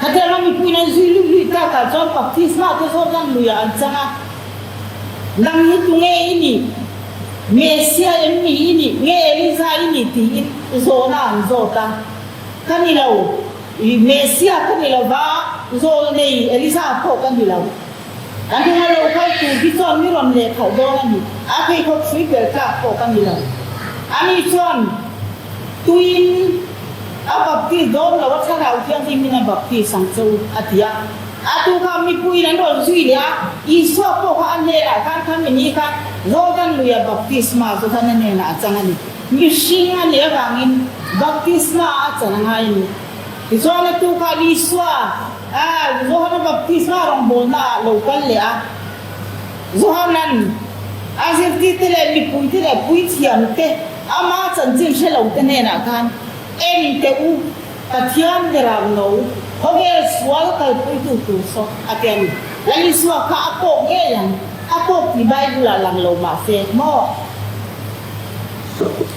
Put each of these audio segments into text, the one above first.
Hetiang a mipuiin an zui luih luih tak ah chuan Baptisma te zawt lam lui ah an chang a, Lam hi tu nge i nih? Messia em nih i nih? Nge Eliza i nih? tiin zawn ah an zawt a, Ka ni lo, Messia ka ni lova, zawl nei Eliza pawh ka ni lo. A hnung a lo kal tur hi chuan ni rawn leh khauh dawn a ni. A pheikhawk hrui tel tlak pawh ka ni lo. Ani chuan tuiin a baptist dawn lo a, Thlarau Thianghlim in a baptist ang chu, a ti a. A tu kha mipuiin an rawn zui leh a, Isua pawh kha a hnenah khan kha mi ni kha Jordan luia baptisma zu khan a hnenah a chang a ni. Mihring a nih avangin baptisma a chan a ngai a ni. Tichuan a tu kha Isua a Johana Baptisma rawngbawlna ah lo kal leh a. Johanan a zirtirte leh mipuite leh puithiamte, amah chanchin hre lote hnenah khan, Enteh u, Pathian Biarak lo, khawvel sual kalpawihtu tur saw, a ti a ni. Lal Isua kha a kawk ngei ang, a kawk tih Bible ah lang lo mah se maw?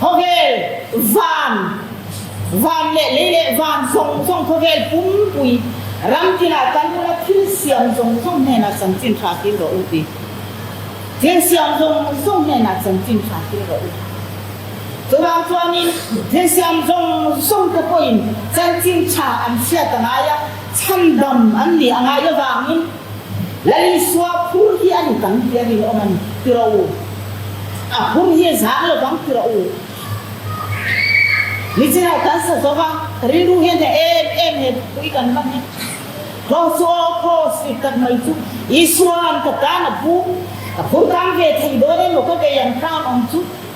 Khawvel, van, van leh lei leh van zawng zawng khawvel pumpui ramkila Talmud-a thil siam zawng zawng hnena chanchin hra kil rawh u ti. Thil siam zawng zawng hnena chanchin hra kil rawh u. Chuvang chuanin thil siam zawng zawng te pawhin chanchin hra an hriat a ngai a, chhandam an nih a ngai avangin, Lalisua phur hi a ni tam tih a rinawm a ni, ti rawh u. A phur hi zang lo bang ti rawh u. Nichiah kan sa zawk a, ka rilru hian hna em em he pui kan va nghet. Kraw chu aw khaw sik tak mai chu Isua an ka tan a pu, ka phur kang ve thei dawn emaw ka vei ang khan awm chu.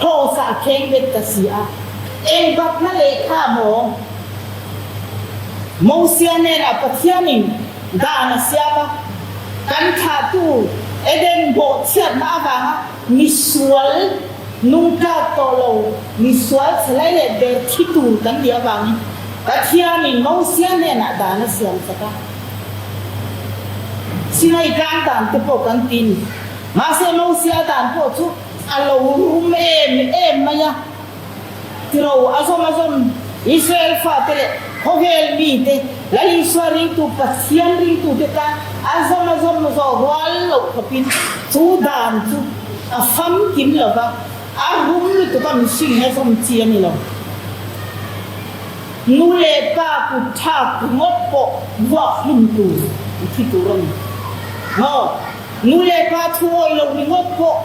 Hausa a kheng bet ka si a, eng bakna lehkha maw? Mosia nena Pathianin dan a siam a, kan thlahtu Eden bawhchhiatna avanga misual nungtlak tawh lo, misual chelai leh ber thi tur kan nih avangin Pathianin Mosia hnenah dan a siam chak a. Sinai Tlangdante pawh kan tin, mahse Mosia dan pawh chu A lo rum em em mai a. Tilo a zawm a zawm Israel fate leh khawvel mite, Lal Isua ringtu, Pathian ringtute tan a zawm a zawm zawh rual loh khawpin chu dan chu a famkim lo va, a rum lutuka mihringin a zawm chi a ni lo. Nu leh pa kut tha ringawt pawh vuak hlimtu i thi tur a ni. Maw? Nu leh pa thu awih lo ringawt pawh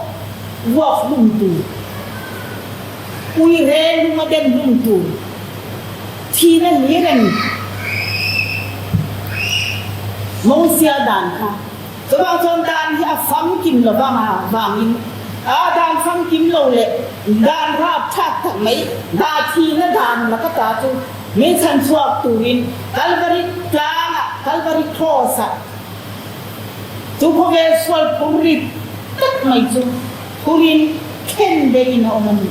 ruak hlum tur, uihe lung a dem hlum tur, thin a ni reng mo sia dan kha. Chuvang chuan dan hi a famkim lo vanga vangin aa dan famkim lo leh dan rap that tak mai, dah thin a dan mak ata chu min chhan chhuak turin Calvary tlangah, Calvary Cross-ah, Chu khawvel sual phur rit tlat mai chu thurin thlen deiin a awm a ni.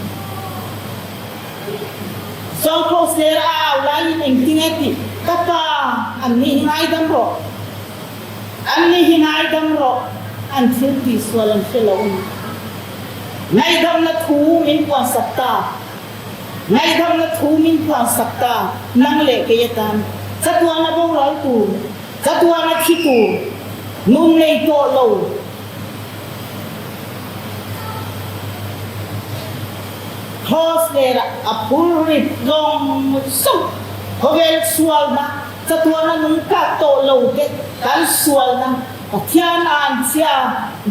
Zawng Kraw Ser a au laiin eng ti nge tih ka pa annih hi ngaidam rawh, annih hi ngaidam rawh an thil tih sual an hre lo a ni. Ngaidamna thu min puansak ta, ngaidamna thu min puansak ta nang leh kei atan chatuana boral tur. Chatuar a thi tur nun lei tawh lo Horse ler ah a phur rit zawng zawng. Khawvel sualna, chatuarna nun kak tawh lo te kan sualna, Pathian an chhia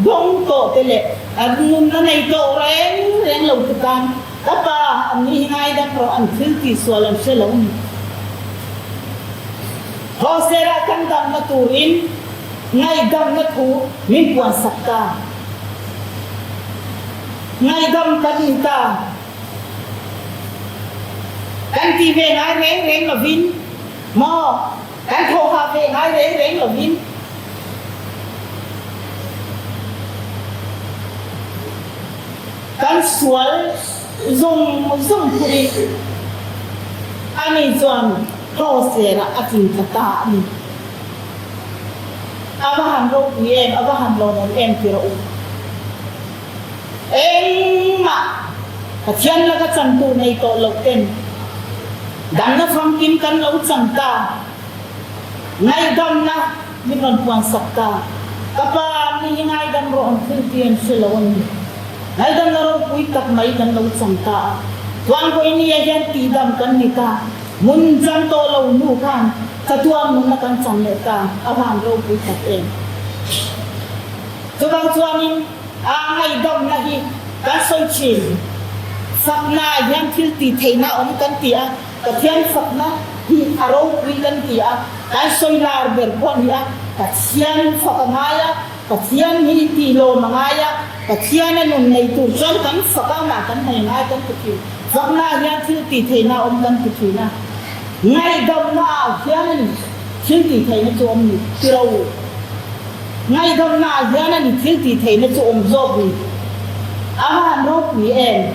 bawng tawh te leh kan nunna nei tawh reng reng lo te tan ka pa an nih hi ngaidam rawh an thil tih sual an hre lo a ni. Hosera kan damna turin ngaihdamna thu min puansak ta. Ngaihdam kan in ta kan ti ve ngai reng reng lovin maw, kan thawhhah ve ngai reng reng lovin kan sual. Zawng zawng phunin ani chuan hlawhserah a tling ta ta a ni. A va han ropui em, a va han lawmawm em ti rawh u. Engmah Pathian laka chantu nei tawh loh ten damna famkim kan lo cham ta, ngaihdamna, Min rawn puan sak ta. Ka pa, mi hi ngaidam rawh an philh tih an hre lo a ni. Ngaidam na ropui tak mai kan lo chang ta a. Tluangkawi ni ah hian tihdam kan ni ta. Mun chang tawh lo hnu khan thatuam nunna kan chang leh ta, a van ropui tak em. Chuvang chuanin a ngaidamna hi kan sawi thin. Sakna ah hian thil tih theihna awm kan ti a. Pathian fakna hi a ropui kan ti a, kan sawi lar ber pawh a ni a, Pathian fak a ngai a, Pathian hi tihlawm a ngai a, Pathian a nun nei tur chuan kan fak a, amah kan hnaih a ngai kan ti thin. Faknaah hian thil tih theihna a awm kan ti thin a, ngaihdamnaah hian a ni thil tih theihna chu awm ni tilo. Ngaihdamnaah hian a ni thil tih theihna chu awm zawk ni. Amah an ropui em?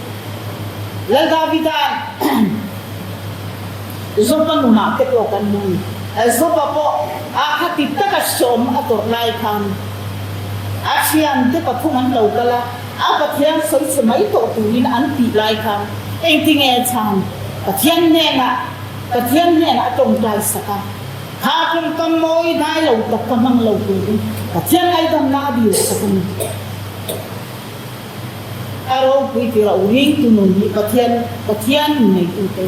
Lal Davida Joba nunah te pawh kan hmu a, Joba pawh aakha ti taka sawm a tawrh lai khan a thiante pathum an lo kal a, a Pathian sawi che mai tawh turin an tih lai khan engtinge chang Pathian hnenah Pathian hnenah a tawngtai sak a, kha kawngkam mawi dai lo tak ka hmang lo turin Pathian aidanna a dirsak a ni. A ropui tir a uring tu nun hi Pathian, Pathian in neitu te.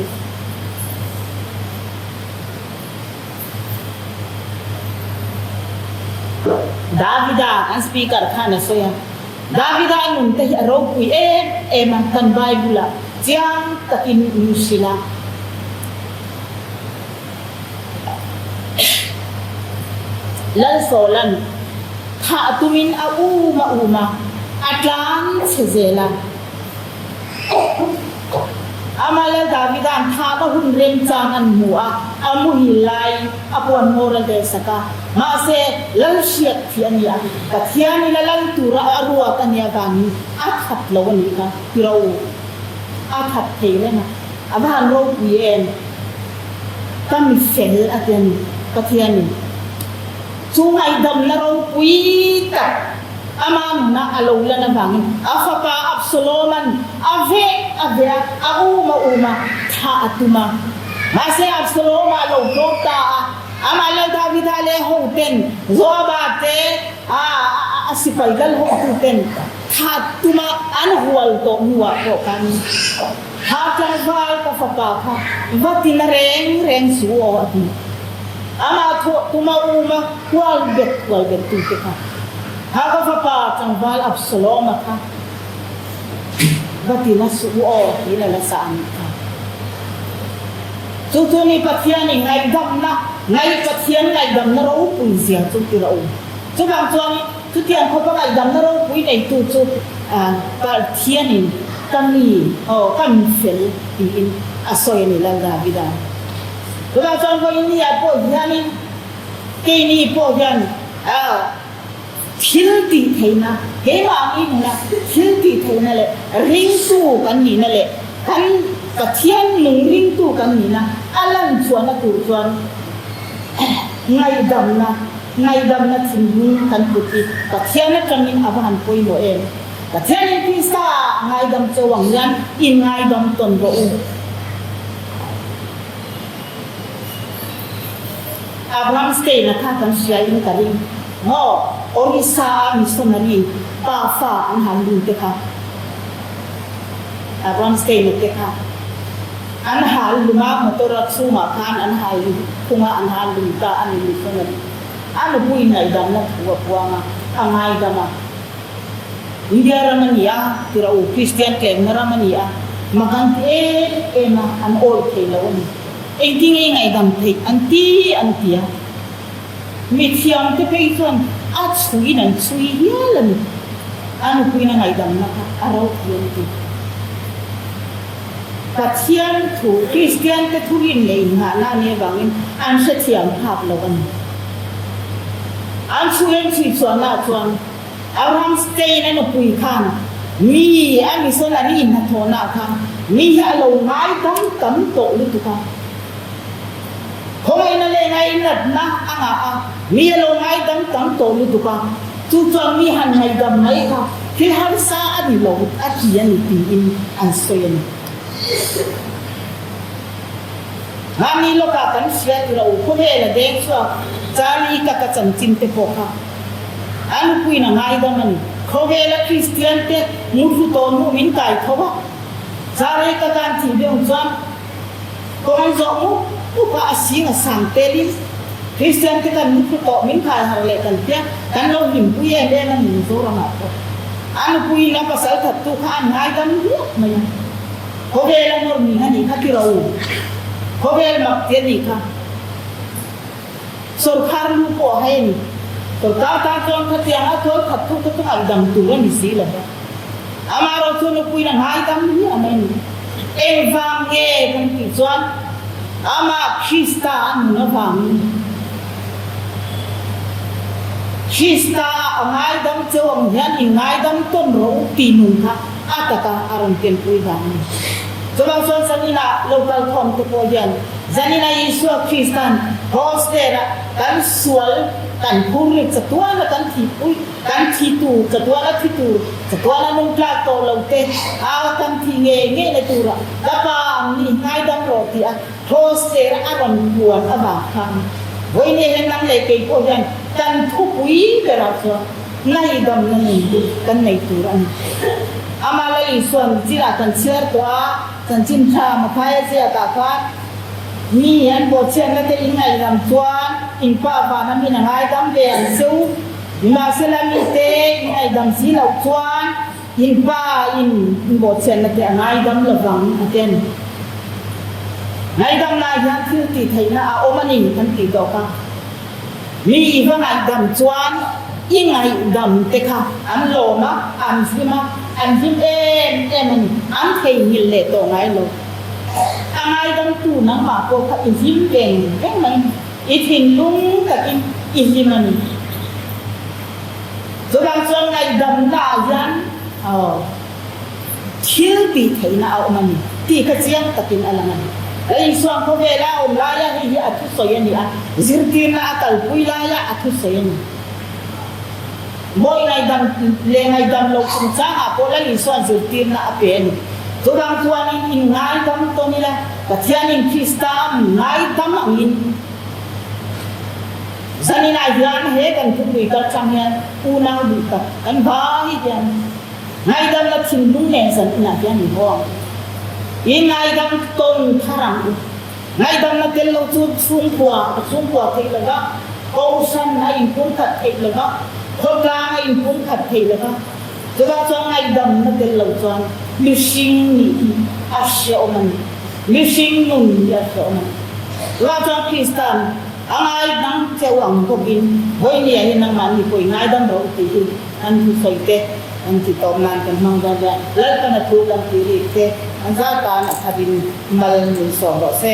Davida an speaker khan a sawi a. Davida a nun te hi a ropui em em a, kan Bible-ah chiang takin a hrilh a. Lalsawlan thah tumin a um a um a, a tlang chhe zel a. Amah Lal Davida'n thah ka hun rem chang an hmuh a, a muhil lai a puan ngawr a der sak a. Mahse, lal hriat thih a ni a, Pathian ila lal tura a ruak a nia vangin a that lo a ni kha, tiro u, a that thei reng a. A van ropui em? Ka mi fel a ti a ni, Pathian in chu ngaihdam na ropui tak ama nuna a lo lan avangin a fapa Absaloman a vek a ve a, a um a um a, thah a tum a. Mahse Absaloma a lo tlawp ta a, amah leh Davida leh hoten, Joaba te, a a sipai kal hotu ten thah tum a, an hual tawh hnuah pawh khan. Hahchawng hmai ka fapa kha nghatin a reng reng su aw a ti. Amah thawh tum a um a, hual bet hual bet tu te kha ha ka fapa tlangval Absaloma kha va tin a suh u aw tiin a la sa a nih kha. Chu chu nih Pathian i ngaihdamna ngai, Pathian ngaihdamna ropui zia chu tirh a um. Chuvang chuan. Chutiang khawpangai damna ropui neitu chu Pathianin ka mi aw, ka min fel tiin a sawi a ni lo Davida. Tunah chuan Goinia pawh hianin keini pawh hian thil tihtheihna, keimah min hmuna thil tihtheihna leh ringtu kan nihna leh kan Pathian nung ringtu kan nihna a lanchhuahna tur chuan Ngaihdamna, Ngaihdamna thin hi kan kut hi Pathian atangin a va han pawimawh em? Pathianin Krista a ngaidam cho ang hian i ngaidam tawn rawh u. Abraham Stein-a kha kan hriain ka ring maw? Orissa-a missionary pa fa an han ringte kha Abraham Stein-a te kha. An hal hlum a, motor a chhungah khan an hal hlum thunga an hal hlum ta a ni Mithun a ni. A nupui ngaihdamna thu a buang a, a ngaidam a. India ram a ni a, Tirau Kristian tlêkna ram a ni a, makan ti em em a, an awih thei lo a ni. Engtinge i ngaidam theih an ti an ti a. Mithiam te phei chuan a chhuin an chhui hial a ni. A nupuina ngaidamna kha a ropui an ti. Pathian thu Kristiante thuin lei nghah na nih avangin an hrethiam hak lo a ni. An thu en chhuihchhuah na ah chuan Abraham Stein-a nupui khan mi a mission an in hnathawh na ah khan mi hi a lo ngai dam tam tawh lutuk a. Khawngaihna leh ngai in ratna a ngah a, mi a lo ngai dam tam tawh lutuk a. Chu chuan mi han ngaihdam mai kha hi harsa a ni lo a ti a ni tiin an sawi a ni. Hnga mi lawkah kan fiah tirh u, khawvela deng chuan Charlie ka ka chanchin te pawh kha a lupuin a ngaidam a ni. Khawvela Kristian te muthlu tawnu min kai tho a, Charlie ka kan tih deuh chuan, Kawng zawh muk muk a a sing a sang tel in Kristian te kan nupui tawh min kai har leh kan tia kan lo hlimpui em em a ni mi Zoram ah pawh a nupui in a pasal that tu kha an ngaidam riat mai a, khawvel a nawr mi hani kha tiro khawvel mak tir ni kha sorkar lu pawh a hai a ni, kawr tang tang tlawn kha tiang a tual that thu kha chu ngaidam tur a ni si lo. Amah erawh chuan Nupui la hnai dam hi a nei. Engvang nge kan tih chuan Amah Krista a nun avangin Krista a ngaidam cheu ang hian i ngaidam tawn rawh u tih nun kha a taka a rawn telpui dan a ni. Chuvang chuan Zanina lo kal thawmte pawh hian Zanina Isua Kristan Hostera kan sual kan phur rikchatuana kan thihpui. Kan thi tur, chatuan a thi tur, chatuan a nung tlak tawh lo te, au tam thih nge nge na tura ka pa ang nih hnai dam rawh tih a thaws cher a, a rawn puan a va kham. Vawinia hian nang leh kei pawh hian kan thupui berah chuan hnai dam na nun hi kan nei tur a ni. Amah la Isuan chinah kan chhiar tawh a, chanchin thla mathai a ziakah khan mi an pawhchhiarna te inneih lam chuan in pa vana min a ngaidam ve ang seuh. Mahse la mite inaidam si loh chuan in pa in inbawhchhiatna te a ngaidam lovang a ken. Ngaidam lai hian thil tih theihna a awm a ni an tih tawp a. Mi i va ngaidam chuan i ngaihdam te kha an lawm a, an hlim a, an hlim em em a ni. An theihnghilh leh tawh ngai lo. A ngaidamtu nangmah pawh kha i hlim veng veng mai. I thinlung takin i hlim a ni. Chutah chuan ngaihdamna ah hian aw thil tih theihna a awm a ni tih kha chiang takin a lang a ni. Ka insuan khawvela a awm laia hei hi a thusawi a ni a, zirtirna a kalpui laia a thusawi a ni. Mawi ngaidam leh ngaidam lo chungchangah pawh la insuan zirtirna a pen. Zorang chuanin in ngaidam tawn ila, Pathianin Krista a mi ngaidam angin zaninah hian he kan thupui kal chang hian unau duh tak kan bangin hian ngaidamna thinlung nen zan inah hian min aw ang. In ngaidam tawn thar ang u. Ngaihdamna tel lo chu chhungkua a chhungkua theih lo va, kohhran a inpum khat theih lo va, khawtlang a inpum khat theih lo va. Chutah chuan ngaihdamna tel lo chuan mihring nih hi a hreawm a ni, mihring nun hi a hreawm a ni. Chutah chuan Kristan a ngaidam cheu ang bawkin, Bawinia hi nangmah ni pawhin ngaidam rawh, tih hi. An hnusawi te an ti tawp nan kan hmang dawn ria. Lalpana thu kan ti bik che. An zar tan a khat in mal nuisawm rawh se.